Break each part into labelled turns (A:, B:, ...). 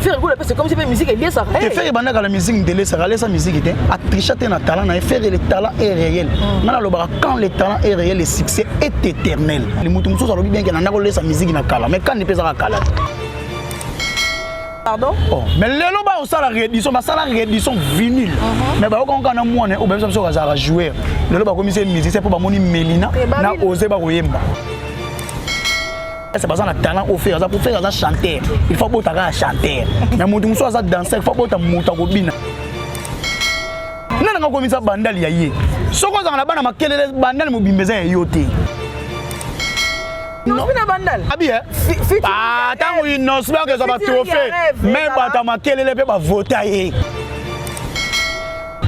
A: Ferre Gola c'est comme si la musique est liée ça. Et Ferre banda la musique
B: de laisser aller sa musique était a tricher un talent et Ferre le talent est réel. Nana mm. le bara quand le talent est réel le succès est éternel. Les moutons mususu alobi bien que nana ko laisser musique na kala mais quand ne pesa kala. Pardon?
A: Oh, mais lelo ba
B: osala réédition, ba sala réédition vinyle. Uh-huh. Mais ba okonka na mwana ou même ça ça va jouer. Lelo ba komisa musique c'est pour ba moni Melina eh, na oser ba koyemba. Ese baza na talent oyo fere aza po fere aza chanteur il faut abota kaka chanteur na moto mosusu aza danseur il faut abota moto akobina nani akakomisa bandali ya ye soki ozanga na bana makelele bandali mobimba eza ya yo te
A: ntango
B: inosi bakezwa batrohe me bata makelele mpe bavota ye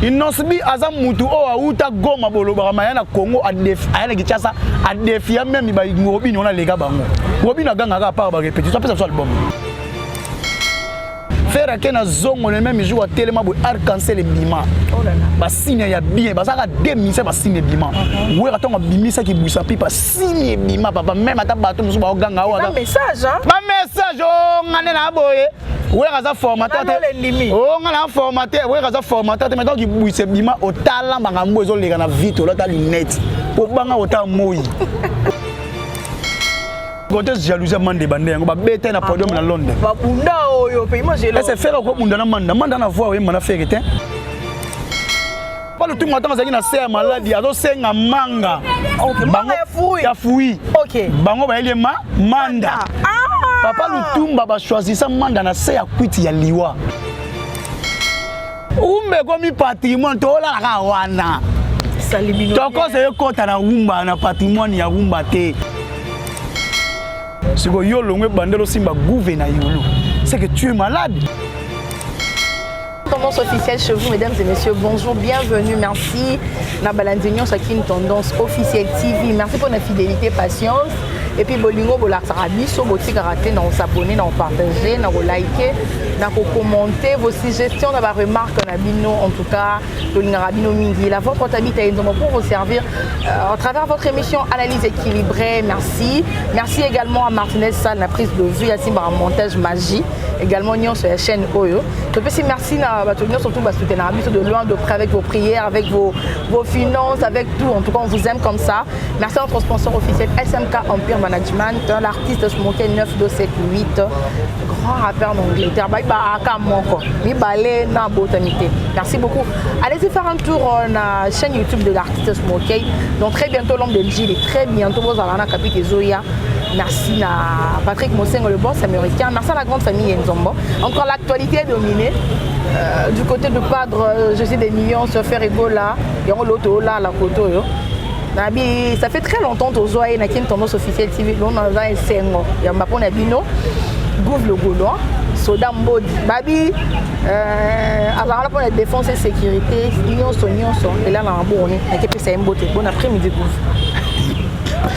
B: Innosbi aza mutu oyo awuta Goma bolobaka maya na Congo aya na Kinshasa adefia meme ba Robin wana lega bango Robin agangaka apart ba repetition apesa biso album Ferre ake na zongo le même jour atelema boye arc-en-ciel ebima oh basigne ya bien bazalaka demise basigne ebima uh-huh. wera ntango abimisaki busa mpe basigne ebima papa meme ata bato mosusu baoganga awa
A: bamessage o
B: oh, nga nde na boye wera aza formateur te o nga na formateur wera aza formateur te mais donc ibwise bima otala makambo ezoleka na vite olata lunette po banga ota moi kote jalousie mande bande yango babeta na podium na londres babunda oyo
A: pe imagine ese fere okobunda na
B: manda manda na voix oyemba na fere te pa lutumba ntango azalaki na se ya maladi azosenga manga
A: ya fui bango bayeli ye ma
B: manda ah! papa lutumba bachoisisa manda na se ya kwiti ya liwa umba ekomi patrimoine tolalaka wana
A: tokosa ekota
B: na umba na patrimoine ya umba te sikoyo yo olongo ebandela osimba guve na yulu seke tu es malade
A: Tendance officielle chez vous, mesdames et messieurs. Bonjour, bienvenue, merci. Na balandi nyonso aki une tendance officielle TV. Merci pour la fidélité, patience. Et puis bolingo bolakisaka biso botikaka te na kosabone na kopartage na kolike na kokommente vos suggestions na baremarque na bino en tout cas tolingaka bino mingi la voix portabita enzomo pour vous servir euh, à travers votre émission analyse équilibrée merci merci également à martinez sal na prise de vue asimbaka montage magie également nyonso ya chaîne oyo topesi merci na bato nyonso tout basoutenaka biso de loin de près avec vos prières avec vos, vos finances avec tout en tout cas on vous aime comme ça merci à notre sponsor officiel SMK Empire Management l'artiste Smoke 9278 grand rappeur d'Angleterre bayi baaka moko mibale na botami te merci beaucoup allez-y faire un tour euh, na chaîne YouTube de l'artiste Smoke donc très bientôt l'homme de Gilles très bientôt bozala na kapite ezoya Merci à Patrick Mosengo, le boss américain. Merci à la grande famille Nzombo. Encore l'actualité est dominée. Euh, du côté de Padre, euh, je sais des millions sur faire Ebola. Il y a l'autre là, la photo. Ça fait très longtemps que Zoé et Nakin tendance officielle TV. Nous avons un Sengo. Il y a un Bapon Abino. Gouv le Gaulois. soda mbodi babi euh, azalaka mpona défense et sécurité nyonso nyonso elala na boni nakepesa ye mbote bon après midi gouv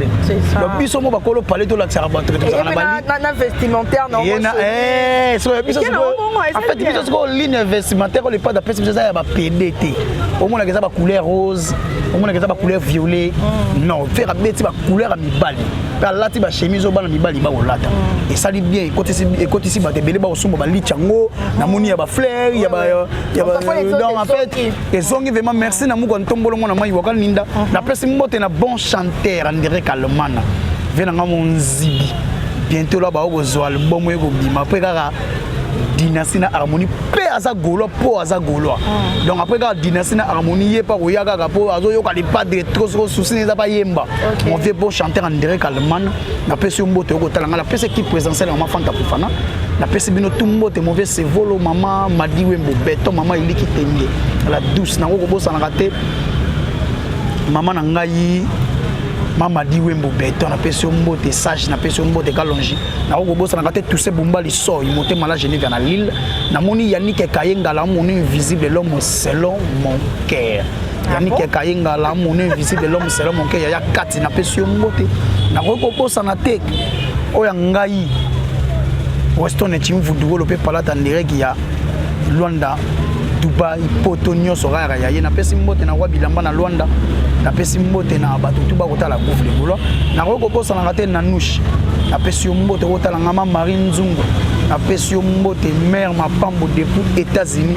B: donc biso mo bakolo pale tolakisaka bato ke tozala na
A: vestimentaire
B: biso sikoyo ligne vestimentaire oyo lepade apesi biso eza ya bapede te omonaka eza bacouleur rose omonaka eza bacouleur violet mm. non fere abeti bacouleur ya mibali mpe alati bachemise oyo bana mibali bakolata mm. esali bien ekotisi bato ebele bakosomba balici yango na moni ya bafleur ya donc en fait ezongi vema merci na muka ntombolo mwana mai waka ninda uh-huh. napesi mbote na bon chanteur andire kalomana ve na nga monzibi bientôt la bao kozwa album oyo ekobima apres kaka dynastie na harmonie mpe aza gaulois mpo aza gaulois mm. donc après kaka dynastie na harmonie ye mpa koya kaka mpo azoyoka lipadre trop soko susi na eza bayemba mon vieux beau chanteur andire kalman napesi yo mbote okotala ngai napesi ekipe présidentielle ya mama fanta kofana napesi bino tu mbote mauvais sevolo mama madiwembo beton mama eliki tenge la douce nango kobosanaka te mama na ngai mama diwembo beton napesi yo mbote sage napesi yo mbote kalongi nakoki kobosanaka te tuse bumba lisoi motema la geneve na lille namoni yanike kaye ngala monu invisible l'homme selon mon cœur yannick ah kayenga la mono invisible l'homme selo monke yaya kati napesi yo mbote nakoki kobosana te oyo ya ngai weston ecimvudugolo mpe palata ndereki ya luanda dubai poto nyonso kaka ya ye napesi mbote na kwa bilamba na luanda napesi mbote na bato tu bakotala gouve legolo nakoki kobosanaka te nanouche napesi yo mbote kotalanga ma marie nzungu napesi yo mbote mare mapambo depuis états-unis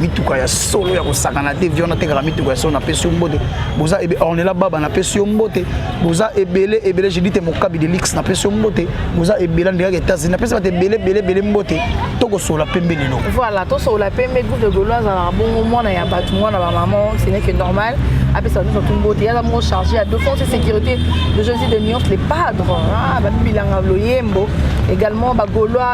B: mituka ya solo ya kosakana te vion atekaka mituka ya solo napesi yo mbote boza ebe ornela baba napesi yo mbote boza ebele ebele jedite mokabi de lix napesi yo mbote boza ebele andekaka etats-unis napesi bato ebele ebele ebele mbote tokosola pembe lelo voilà tosola pembe
A: groupe de golo azalaka bongo mwana ya bato mwana bamama ce n'est que normal apesa biso tout mbote yaza moko chargé ya défense et sécurité de jésus de nuance les padres babibilanga loyembo également bagolois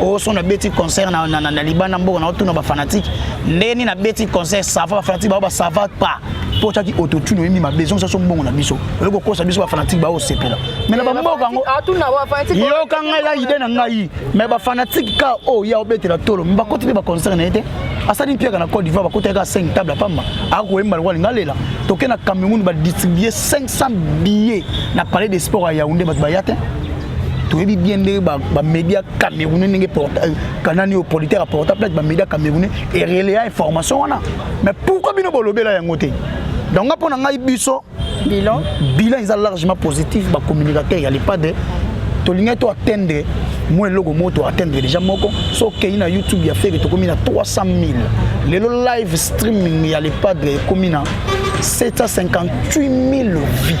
B: oyo so nabeti concert na, na, na, na libanda mboka na otuna bafanatike ndenge nini nabeti concert sava bafanatike bao basava pas mpo otyaki autotune oyembi mabe ezongisa so mbongo na biso oye kokosa biso bafanatike bao osepela me na bamboka yango yoka ngai eza ide na ngai me bafanatike ka oyo ya obetela tolo me bakoti mpe baconcert na ye te asali mpiaka na cote d'ivoire bakotaki ka 5 table apamba akoyemba lokola linga lela toke na cameroun badistribue 500 billet na palais de sport ya yaounde bato baya te toyebi bien ndenge bamédia camerounais ndenge euh, kanani oyo politique aporta plate bamédia camerounais erelea information wana mais pourquoi bino bolobela yango te donc nga mpo na ngai biso bilan bilan eza largement positif bacommunicateur ya lepade tolingai to atteindre mwa eloko moko to atteindre déjà moko so okei na youtube ya fere tokomi na 300 000 lelo live streaming ya lepade ekomi na 758 000 vues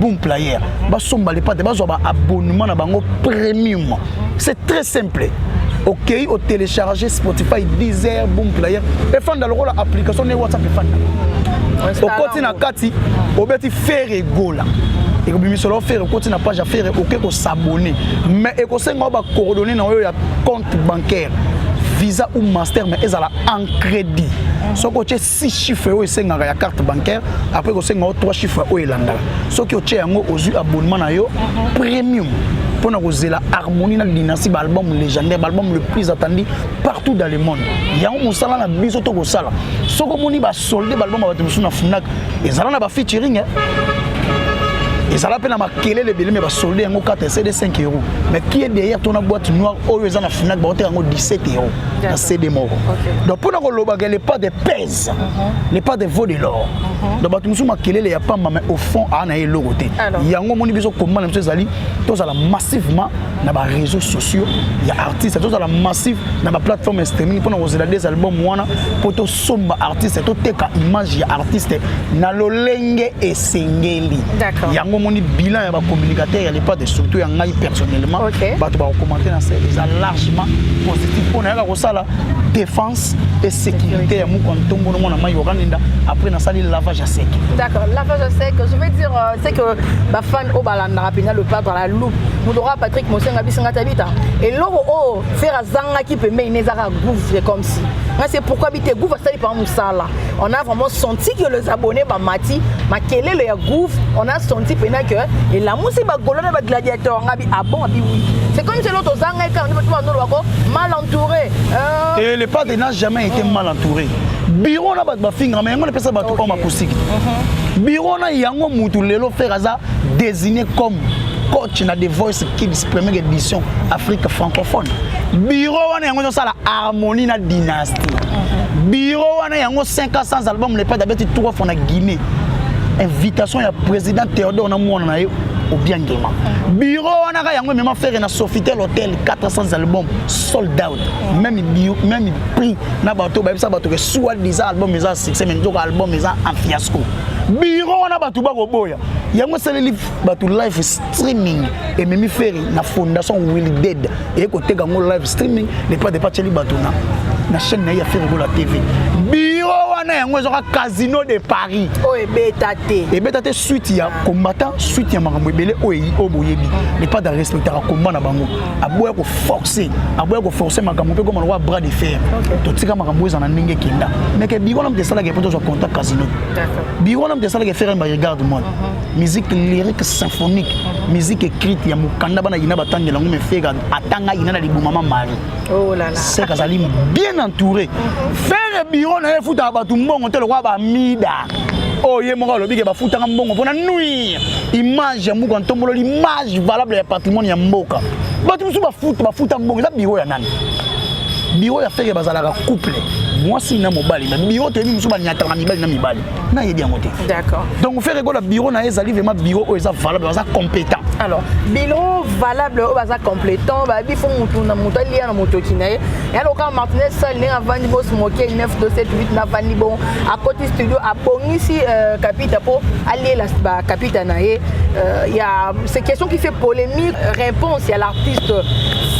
B: boom player basomba lepate bazwa ba abonnement na bango premium c'est très simple okei okay, otelecharge spotify deezer boom player efanda lokola application ne whatsapp efanda okoti na kati obeti fere egola ekobimisa lo fere okoti na page ya fere oke kosabone mais ekosenga yo bacoordonne na oyo ya compte bancaire visa ou master mais ezala en crédit soki otie six chiffres oyo esengaka ya carte bancaire après kosenga yo trois chiffres oyo elandaka soki otie yango ozwi abonnement na yo premium mpo na kozela harmonie na dynastie baalbum légendaire baalbum le plus attendu partout dans le monde yango mosala na biso tokosala soki omoni basolde baalbum ya bato mosusu na funak ezala na bafeaturing eh? ezala mpe na makelele ebele me basolde yango 4 cd 5 euro mais qui est derrière tona boîte noire oyo eza na funak baoteka yango 17 euro na cd moko donc mpo na kolobaka le pas de pèse mhm. le pas de vaut de l'or mhm. donc bato mosusu makelele ya pamba mais au fond aa na ye eloko te yango omoni biso komba na biso ezali tozala massivement na baréseaux sociaux ya artiste tozala massive na baplateforme streaming mpo na kozela des album wana mpo somba artiste toteka image ya artiste na lolenge esengeli yango omoni
A: bilan ya
B: bacommunicateur ya lepade surtout ya ngai personnellement okay. bato bakokomante na sel eza largement positif mpo nayaka kosala défense et sécurité ya moko ntongo na mwana mai okanenda après nasali lavage ya sec d'accord lavage ya
A: sec je veux dire euh, c'est que bafan oyo balandaka mpenza le padre la loupe moto kaka patrick mosenga bisanga tabita eloko oyo Ferre azangaki pembeni ne ezaka gouffre comme si nga c'est pourquoi bite gouffre asali pa musala on a vraiment senti que les abonnés ba mati makelele ya gouffre on a senti pena que elamusi ba golona ba gladiateur nga bi abon ah abi oui c'est comme si l'autre ozanga eka on va nous wako mal entouré euh... et le
B: père n'a jamais été mal entouré bureau na ba finga mais on epesa ba tout comme akusiki bureau na yango mutu lelo ferre aza designé comme coach na The Voice Kids première édition Afrique francophone bureau wana yango ezosala harmonie na dynastie mhm. bureau wana yango 500 album le pete abeti trois fois na Guinée invitation ya président Théodore na mwana na ye obiangema mhm. bureau wana ka yango emema fere na sofitel hotel 400 album sold out mhm. même, bio, même prix na bato bayebisa bato ke soit disant album eza succès mais nzoka album eza en fiasco biro wana bato bakoboya yango esaleli bato live streaming ememi feri na fondation willi dead eye koteka yango live streaming lepa depa atyeli bato na na chaîne na ye ya feri kola tv biro wana yango ezwaka casino de paris oyo oh, ebeta
A: te ebeta
B: te suite ya combattant suite ya makambo ebele oyo oyo boyebi lepa da respectaka combat na bango aboya ko forcer aboya ko forcer makambo mpe koma lokola bras de fer totika makambo eza na ndenge ekenda mais ke biro na moto esalaka mpo tozwa contact casino biro na moto esalaka ferre mba regarde moi mhm. musique lyrique symphonique mhm. musique écrite ya mokanda bana yina batangela yango mefeka atanga yina na libuma ma mari oh sek
A: azali
B: bien entouré mhm. ferre biro na ye efutaka bato mbongo te lokola bamida oyo oh, ye moko alobi ke bafutaka mbongo mpona nuire image ya mbuku ya ntombolo l'image valable ya patrimoine ya mboka bato mosusu bafuta bafuta mbongo eza biro ya nani biro ya feke bazalaka couple mwasi na mobali na biro toyebi mosusu banyataka mibali na mibali nayebi yango te donc feke
A: kola biro
B: na ye ezali vraimen biro oyo eza valable baza compétent alors biro
A: valable oyo baza complétant bayebi mpo motu na motu aliya na motoki na ye ya lokola martinez sal ndenge avandi bos moke 9 do 7 8 navandi bongo akoti studio abongisi euh, kapita mpo alela bakapita na ye euh, ya c'est question qui fait polémique réponse ya l'artiste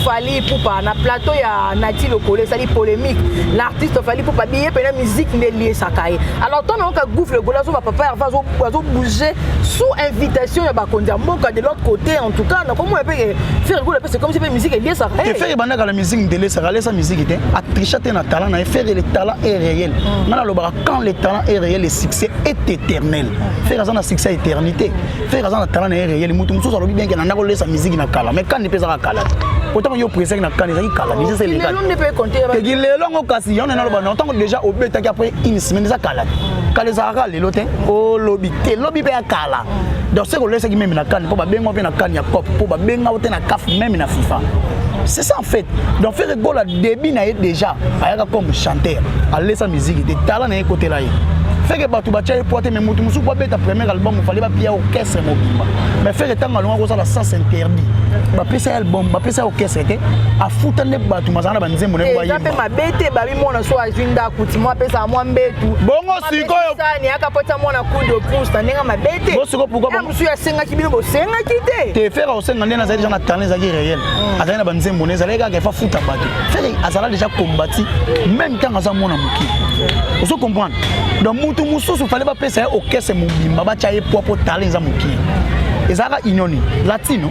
A: fali pupa na plateau ya nati lokolo esali polémique l'artiste fali pupa biye mpena musique nde eliesaka ye alors ntango nayoka gouve legolo azoba papa herva azobouge sous invitation ya bakonzi ya mboka de l'autre côté en tout cas nakomona mpe ferre golo mpe c'est comme si mpe musique eliesaka ye musique
B: ndelesa kalesa musique te atricha te na talent na ye faire le talent est réel mm. nga nalobaka quand le talent est réel le succès est éternel mm. faire aza na succès ya éternité faire aza na talent na ye réel moto mosusu alobi bien ke nanda kolesa musique na kala mais kani mpe ezaka kala otango yo presaki na kani ezaki kala musique se lekateki
A: lelo yango kasi
B: yango naloba na ntango déjà obetaki après une semaine eza kala mm. kala ezalaka lelo te olobi te lobi mpe ya kala donc soki olesaki meme na kani mpo babenga mpe na kani ya cop mpo babenga te na CAF même na FIFA. C'est ça en fait. Donc Ferre Gola début na ye déjà ayaka comme chanteur, alesa musique te talent na ye côté là. Ferre bato batya ye poids te mais moto mosusu abeta premier album ofale bapia orchestre mobimba mais Ferre ntango alonga kozala sens interdit bapesa ye album bapesa ye orchestre te afuta nde bato mazala na banzembo na eza mpe mabe te babimona
A: so azwi ndako ti mwa apesaka mwa mbetu bongo sikoyo
B: sani akapota mwana
A: coup de pouce na ndenge mabe te bosiko pourquoi soki
B: asengaki bino
A: bosengaki te te fere akosenga nde nazali
B: deja na talent ezalaki réel hmm. azali na banzembo nde ezalaki kaka efa futa bato fere azala deja kombati meme ntango aza mwana moke ozo comprendre donc motu mosusu fale bapesa ye okese mobimba batya ye pwa mpo talent eza moke ezalaka union nini latino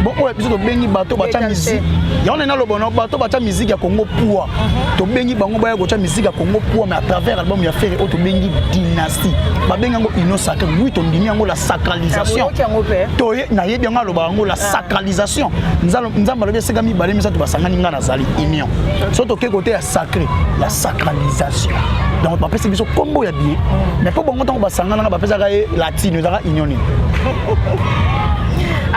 B: bon oyo biso tobengi bato batya miziki yango nani aloba na bato batya miziki ya kongo pua mhm. tobengi bango baya kotya miziki ya kongo pua mais à travers album ya fere oyo tobengi dinas Christi babengi yango union sacrée oui tondimi yango la sacralisation toye nayebi yango alobaka yango la ah. sacralisation nzambe alobi esika mibale misato basangani ngai nazali union so toke kote ya sacré la sacralisation donc bapesi biso nkombo ya bie mm. mais mpo bongo ntango basanganaka bapesaka ye latino ezaka union nini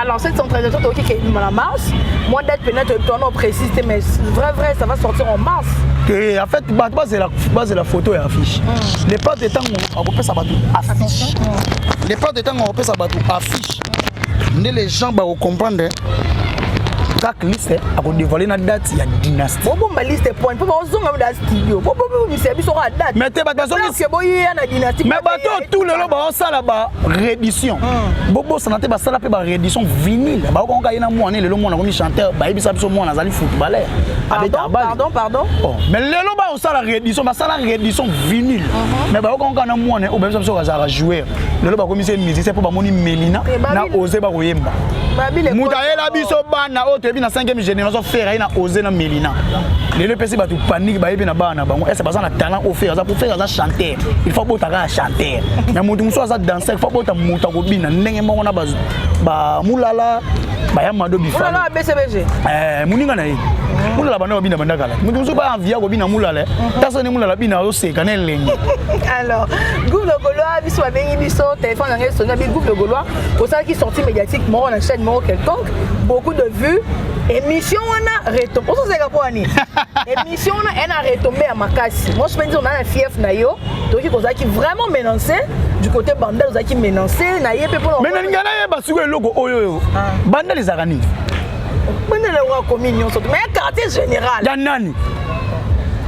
A: Alors cette centralisation toki ke la mars, moi d'être peut-être toi non précise mais vrai vrai ça va sortir en mars. Et en
B: fait base la base la photo et affiche. Mm. le père de tango akopesa bato affiche le père de tango akopesa bato affiche nde les gens bakocomprendre track liste akodévoile na date ya dynastie bobomba liste point mpo
A: baozonga na studio bobomisa biso kaka date mais te bato bazongike
B: boyeya na
A: dynastie mais bato tout lelo
B: baosala ba réédition hmm. bobosana te basala mpe ba réédition vinile baokonga ye na mwana lelo mwana akomi chanteur bayebisa biso mwana azali footballeur abeta abali
A: mais
B: lelo sala redison basala redison vinile uh-huh. mais bayoka nka na mwana obebisa biso azalaka joueur lelo bakomisi ye musicien mpo bamoni melina eh, na ose bakoyemba moto ayela biso bana oyo toyebi na 5e génération fere aye na ose na melina lelo epesi bato panike bayebi na bana na bango ese baza na talent oyo fere aza mpo fere aza chanteur il faut abota kaka chanteur na moto mosusu aza danser il faut abota moto akobina ndenge moko na bamulala bayamado bifaa eh,
A: moninga na ye
B: mulala banda babina banda kala moto mosusu baa envia kobina mulala eh. mhm. taso nde mulala bina azoseka na elengi alors
A: groupe de golois biso babengi biso téléphone yango esoni abi groupe de golois osalaki sortie médiatique moko na chaîne moko quelconque beaucoup de vues émission wana reto mposo ozalaka mpo wani émission wana eye na retombe ya makasi moi je penzi ozala na fief na yo tokoki kozalaki vraiment menance du côté bandal ozalaki menance na ye mpe mpona mais nalinga nayeba sikoyo
B: eloko oyo oyo ah. bandal ezalaka nini Banda
A: na wa komi nyonso mais quartier général. Ya nani?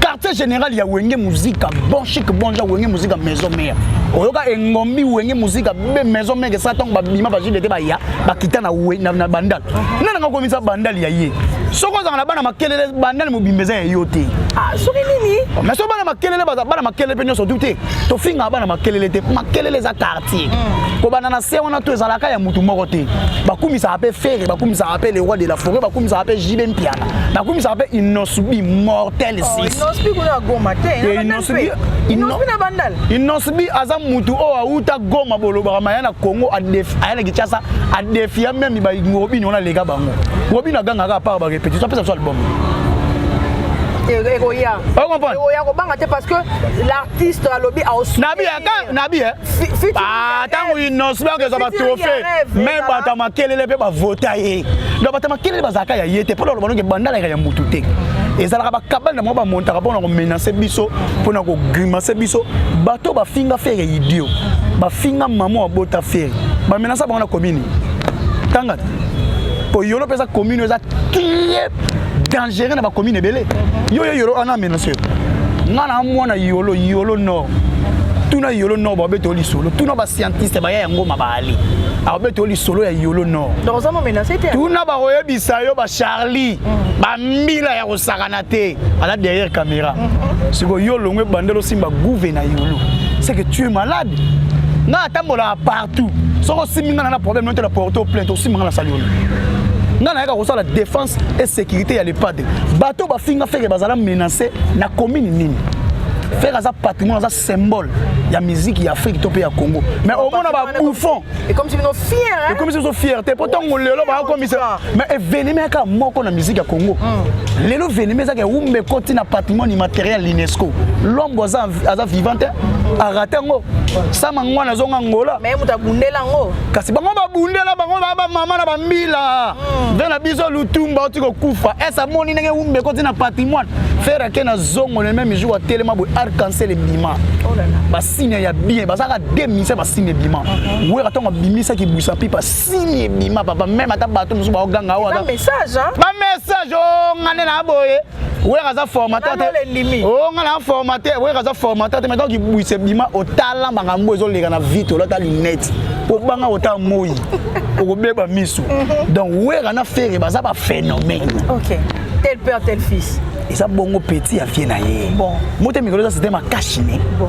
B: Quartier général ya Wenge Musica, bon chic bon genre Wenge Musica maison mère. Oyoka engombi Wenge Musica be maison mère sa tango ba bima ba jinde te ba ya, ba kita na we na, na bandal. Uh-huh. Nana ngako misa bandal ya ye. Soko zanga na bana makelele bandal mobimbeza ya yo te. Ah, soki nini?
A: Oh, mais so bana makelele
B: baza bana makelele pe nyonso tout te. To finga bana makelele te. Makelele za quartier te mm. kobanda na se wana to ezalaka ya motu moko te bakumisaka mpe fere bakumisaka mpe le roi de la forêt bakumisaka mpe jibe mpiana bakumisaka mpe inosbi mortel
A: oh, inosbi aza
B: motu oyo awuta goma bolobaka maya na congo aya na kinshasa adefia meme robini wana aleka bango robini agangaka apart barepetition apesa biso album ekoya okomprendre ekoya
A: kobanga te parce que artiste alobi nabi aka nabi
B: eh ah tango innos ba kezwa ba trophée même bata makelele pe ba vota ye donc bata makelele bazaka ya yete pona loba nonge bandala ya mutu te ezalaka bakabale na moko bamontaka mpona komenase biso mpona kogrimase biso bato bafinga fere idio bafinga mama abota fere bamenasa bango na komini tangata po yolo mpe eza komini eza trie dangereux na bacommune ebele yo yo yolo wana amenace nga na mwana yolo yolo nord tuna yolo nord babeta yo lisolo tuna bascientiste baya ya ngoma baali abeta yo lisolo ya yolo nord
A: tuna bakoyebisa
B: yo bacharlie mm. bambila ya kosakana te aza derrière caméra mm-hmm. sikoyo yo olongo ebandela osimba gouve na yolo c'est que tu es malade nga atambolaka partout soki osimbi nga na na problème note na porte o plainte osimbi nga na sali yolo nga nayaka kosala défense et sécurité ya l'EHPAD bato bafinga feke bazala menacé na commune nini feke aza patrimoine aza symbole ya musique ya afrique to mpe ya congo mais omona babouffon
A: ekomisi biso fier
B: te
A: mpo
B: ntango lelo bakomisa mais evenema yaka moko na musique ya congo hmm. lelo venema ezaka ewumba ekoti na patrimoine immatériel l'unesco lombo aza vivant te arate yango sama ngwana azonga ngola
A: kasi bango babundela
B: bango bamama na bambila ve na biso lutumba oti kokufa ese amoni ndenge wumba ekoti na patrimoine fere ake na zongo na meme jour atelema boye arcancel ebima oh basine ya bien bazalaka demise basine ebima uh-huh. wera ntango abimisaki busa pipa sini ebima papa meme ata bato mosusu baoganga oyo
A: bamessage o
B: oh, nga nde na boye wera aza formateur te o oh, nga na formateur wera aza formateur te maintenant kibwisa bima otala makambo ezoleka na vite olata lunette po banga ota moi okobeba miso mhm. donc wera na
A: fere
B: baza ba phénomène okay. tel
A: père tel fils eza bongo petit
B: ya vie na ye bon. moto ya mikolo eza
A: sete
B: makashine bon.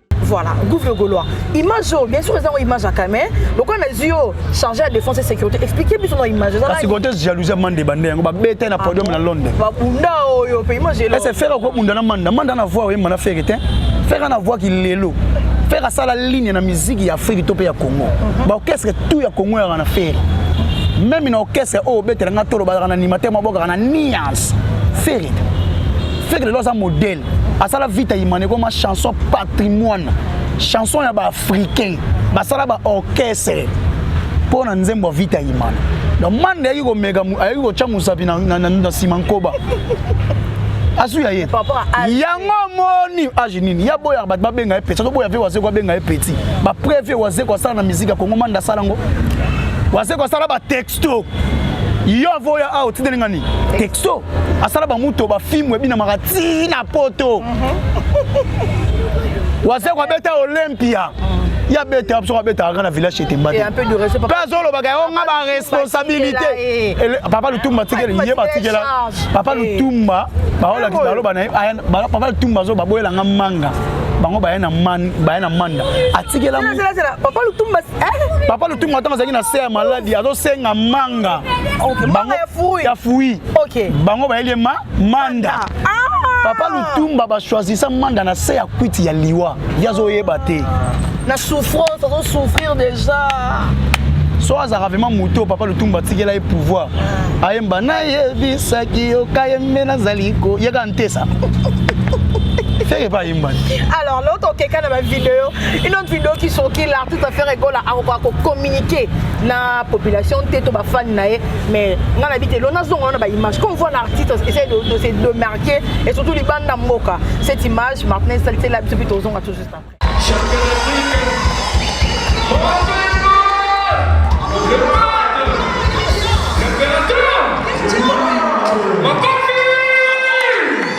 A: voilà gouve le gaulois image oyo bien sûr eza ngo image ya kame lokola nazwi yo chargé ya défense et sécurité expliquer biso na image kasi conteste jalousie ya
B: mande bande yango babeta na podium na londres babunda oyo mpe image elo ese fere okobunda na manda manda na voix oyemba na fere te fere na voix kilelo fere asala ligne na miziki ya afrique to mpe ya congo mhm. baorchestre tout ya congo yaka na fere meme na orchestre oyo obetela nga tolo bazalaka na animateur mabokaka na nuance fere feke lelo aza modèle asala vita imane ekoma chanson patrimoine chanson ya baafricain basala baorchestre mpo na nzembo ya vita imane donc mande ayaki komeka ayaki kotya mosapi na nsima nkoba asu ya ye yango omoni age ah, nini ya boyaka bato babenga ye peti azoboya mpe wazeko abenga ye peti bapreve wazeko asala na miziki ya kongo manda asala yango wazeko asala batex Stop. yo avoya awa otindeli nga nini texto asala bamutu bafimu ebinamaka ti na poto mhm. waze kwabeta olympia ye abeta biso abeta kaka na village etemba te mpe
A: azolobaka yango nga
B: baresponsabilité papa lutumba atikeli ye batikela papa lutumba baolakisa baloba na ye papa lutumba azo baboyela nga manga bango baye na manda atikela papa lutumba
A: papa lutumba
B: ntango azalaki na se ya maladi azosenga manga
A: ya fui
B: bango bayeli
A: ye ma
B: manda ah. papa lutumba bachoisisa manda na se ya kwiti ya liwa ye azoyeba te na souffrance
A: azosouffrir déjà so
B: azalaka vrema moto papa lutumba atikela ye pouvoir ah. ayemba nayebisaki yo kayembe nazali koyeka ntesa feke epai ayemba te alors loto okeka
A: na bavideo une autre vidéo qui sorti l'artiste va faire egola akokoka kocommuniquer na population te to bafani na ye mais ngai nabi te lona zongo wana baimage comme voit l'artiste essaye de, de se demarquer et surtout libanda mboka cette image maintenant esalisela biso mpe tozonga tout juste après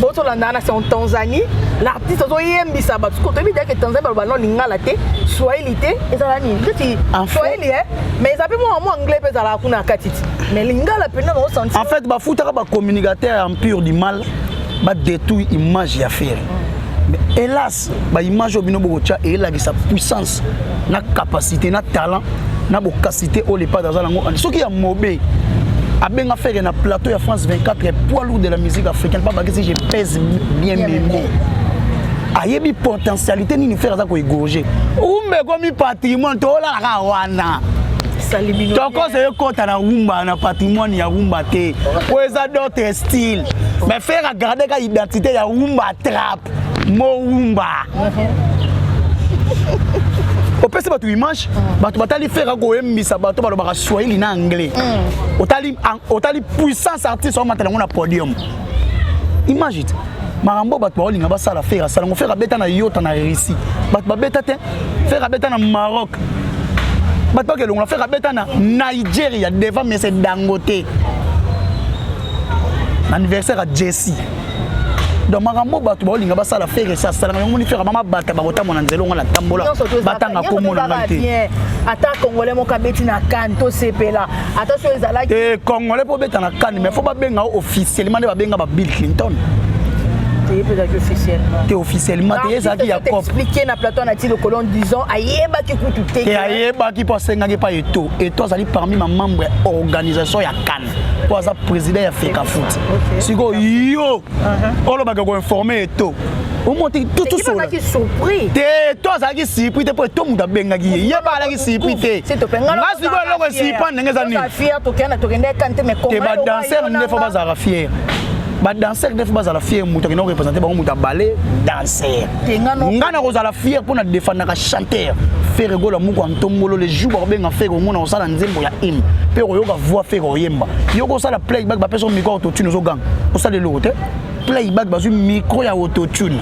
A: bo tolandaka na sango tanzanie l'artiste azoyembisa bato soko toyebi deke tanzanie baloba no lingala te swahili te ezala nini ndeti swahili e mais eza mpe mwa mwa anglais mpe ezalaka kuna na kati ti mais lingala mpenza baosanti en fait bafutaka
B: bacommunicateur ya empire du mal badetruit image ya fere mais hélas ba image oyo bino bokotia eyelakisa puissance na capacité na talent na bokasite oyo lepade aza nango soki ya mobe abenga fere na plateau ya france 24 poids lourd de la musique africaine pa bakisi je pèse bien meme ayebi potentialité nini fere aza koegorge umba ekomi patrimoine tolalaka wana
A: tokosa ekota
B: na rumba na patrimoine ya rumba te oyo eza d'autre style mais fere agardeka identité ya rumba trap mowumba opesi bato image mm. bato batali fere akoyembisa bato balobaka swahili na anglais mm. otali, otali puissance artiste omatala yango na podium image te makambo bato baolinga basala fere asala yango fere abeta na yota na russie bato babeta te fere abeta na maroc bato bakelongola fere abeta na nigeria devant mese dangote anniversaire ya jesse donc makambo oyo bato baolinga basala fere esi asalaka yango moni fere mama bata bakotambo na nzela ongo na tambola batanga kombo na ngai te ata congolais
A: moko abeti na kane tosepela ata so ezalaki eh, congolais mpo obeta na
B: kane mais fo babenga o officiellement nde babenga ba bill clinton ye
A: mpe ezalaki officiellement te officiellement te ye
B: ezalaki ya cop expliqué na plateau na
A: ti lokolo en disant ayebaki kutu te te ayebaki mpo
B: asengaki epai eto eto azali parmi ma membre ya organisation ya kan mpo aza président ya fekafoot sikoyo yo uh-huh. olobaka koinforme eto omoti totosolate
A: to azalaki
B: sipri te mpo eto moto abengaki ye ye ba alaki sipri te nga sikoyo
A: eloko esipa
B: ndenge eza nini
A: badanser nde
B: fo bazalaka fiere badanser nde fo bazala fiere moto akenda korepresente bango moto abale danser nga nakozala fier mpo na defandaka chanteur fere gola moko ya ntombolo le jour bakobenga fere omona kosala nzembo ya hymne mpe okoyoka voix fere oyemba yo kosala playback bapesa micro ya autotune ozoganga osala eloko te playback bazwi micro ya autotune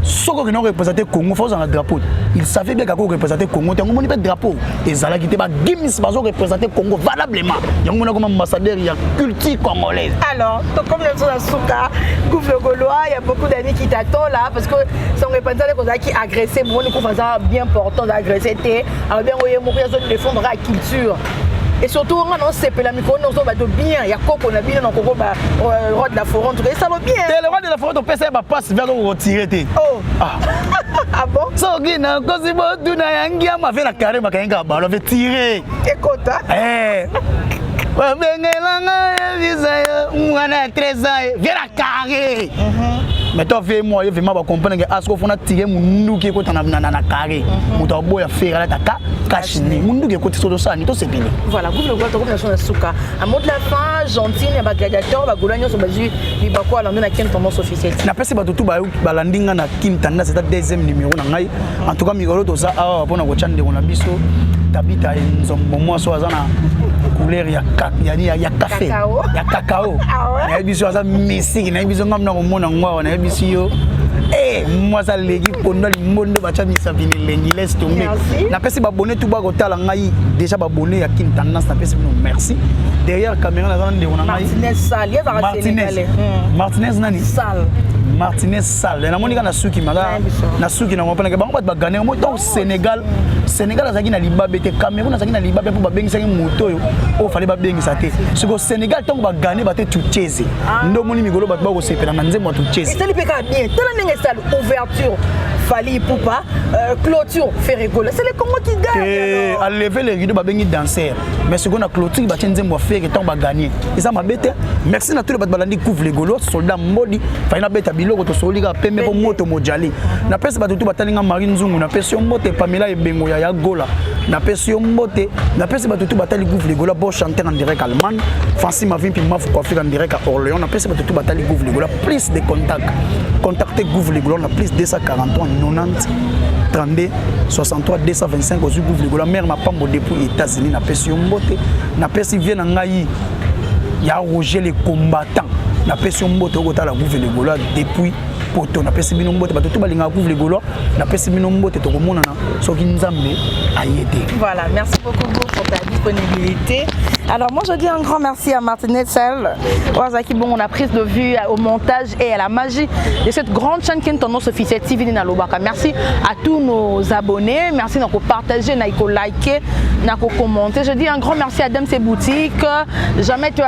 B: soki okendaki korepresente congo fa ozala na drapeau il savait bien kaka korepresente congo te yango omoni mpe drapeau ezalaki te ba gims bazo représenter Congo valablement yango mona koma ambassadeur ya culture congolaise alors to comme
A: le la suka couple gaulois il y a beaucoup d'amis qui t'attendent là parce que son repentant ko zaki agresser mon ko faza bien portant d'agresser te alors bien oye moko ya zone défendre la culture et surtout nga na osepela mikolo nyonso bato bien ya koko na bino na koko ba euh, roi de la foron tuka esalo bien te le roi de la foron topesa
B: ye bapasse via koko kotire te oh. ah.
A: ah bon soki nakosi
B: botuna ya ngiama ve na kare bakangaka balo ve tire ekota
A: eh.
B: babengelanga yebisa yo mwana ya 13 ans ve na kare mais toi ve moi vraiment ba comprendre que asko fona tire munduki ko tana na na carré muto mhm. boya fera la taka kashini munduki ko tiso dosani to sepele voilà gouvernement
A: ko ko na suka A mot de la fin, gentille, ba gladiateur, ba gola nyonso bazui libako alando na ken tendance officielle. Na pesi bato tout ba
B: balandi nga na kin tanda c'est deuxième numéro na ngai. En tout cas mikolo toza awa pona ko chande na biso. Tabita nzombo mwaso aza na couleur ya ya ya, ya café ya cacao. Ah na biso aza misiki na biso ngam na komona ngwa na biso yo. Eh, mwasa legi pondo limbondo bacha misabini lengi laisse tomber. Na pesi ba tout ba kotala ngai déjà ba bonne ya kin tendance na pesi bino merci derrière caméra na zana ndeko na ngai Martinez Sal ye ba Martinez hmm. Martinez nani Sal Martinez Sal na moni kana suki mala na suki na ngopana ke bango bat ba gagner mo donc Sénégal Sénégal azaki na libabe te Cameroun azaki na libabe pour ba bengisa ki moto yo o oh, fallait ba bengisa te ce que Sénégal tant ba gagner ba te tucheze ah. ndo moni migolo bat ba ko sepela na nzembo tucheze c'est le peka bien tala
A: ndenge sal ouvert Sur Fali Ipupa, euh, clôture Ferregola. C'est le Congo qui gagne. Et à lever les rideaux,
B: babengi danser. Mais ce qu'on a clôture, bah tiens nzembo faire et tant ba gagner. Et ça m'a bête. Merci na tous les balandi couvre les golos, soldats modi. Fali na bête biloko to soli ga pembe ko moto mojali. Na pèse ba tout batalinga Marine Zungu, na pèse yo mbote Pamela Ebengo ya ya gola. Na pèse yo mbote, na pèse ba tout batali couvre les golos, bon chanteur en direct allemand. Fancy Mavimpi Mafu Kwafika en direct à Orléans. Na pèse ba tout batali couvre les golos. plus de contact contacte gouve ligola na plus 243 90 32 63 225 ozwi gouve ligola mare mapambo depuis états-unis napesi yo mbote napesi vie na ngai ya roger le combattant napesi yo mbote okotala gouve ligola depuis poto napesi bino mbote bato to balingaka gouve ligola napesi bino mbote tokomonana soki nzambe
A: aye te
B: voilà
A: merci
B: beaucoup
A: beau pour ta disponibilité alors moi je dis un grand merci à Martine Etsel oyo azalaki bongo na prise de vue au montage et à la magie de cette grande chaîne ken tendance officielle tv nini nalobaka merci à tous nos abonnés merci na kopartage na kolike na kokommente je dis un grand merci à dame ses boutiques jamais toi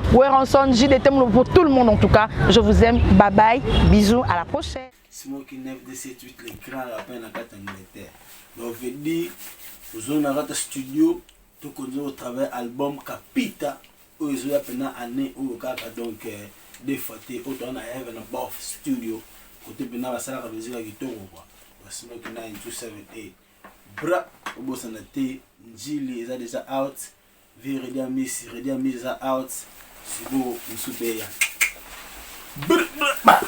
A: Werenson, JDT Moulobo pour tout le monde en tout cas. Je vous aime. Bye bye. Bisous. À la prochaine. Smoky 9278
B: les grands rappeurs na kati Angleterre. Donc je dis ozo na kati studio to konzo au travail album Capita oyo ezo ya pena année oyo kaka donc euh, des fois te oyo toza na heaven above studio kote pena basalaka mizika kitoko kwa basmoki 9278 bra obosana te njili eza deja out Vieux Reddy Amisi, Reddy Amisi eza out, Zibobo mosusu mpe eya. Brr, brr, brr.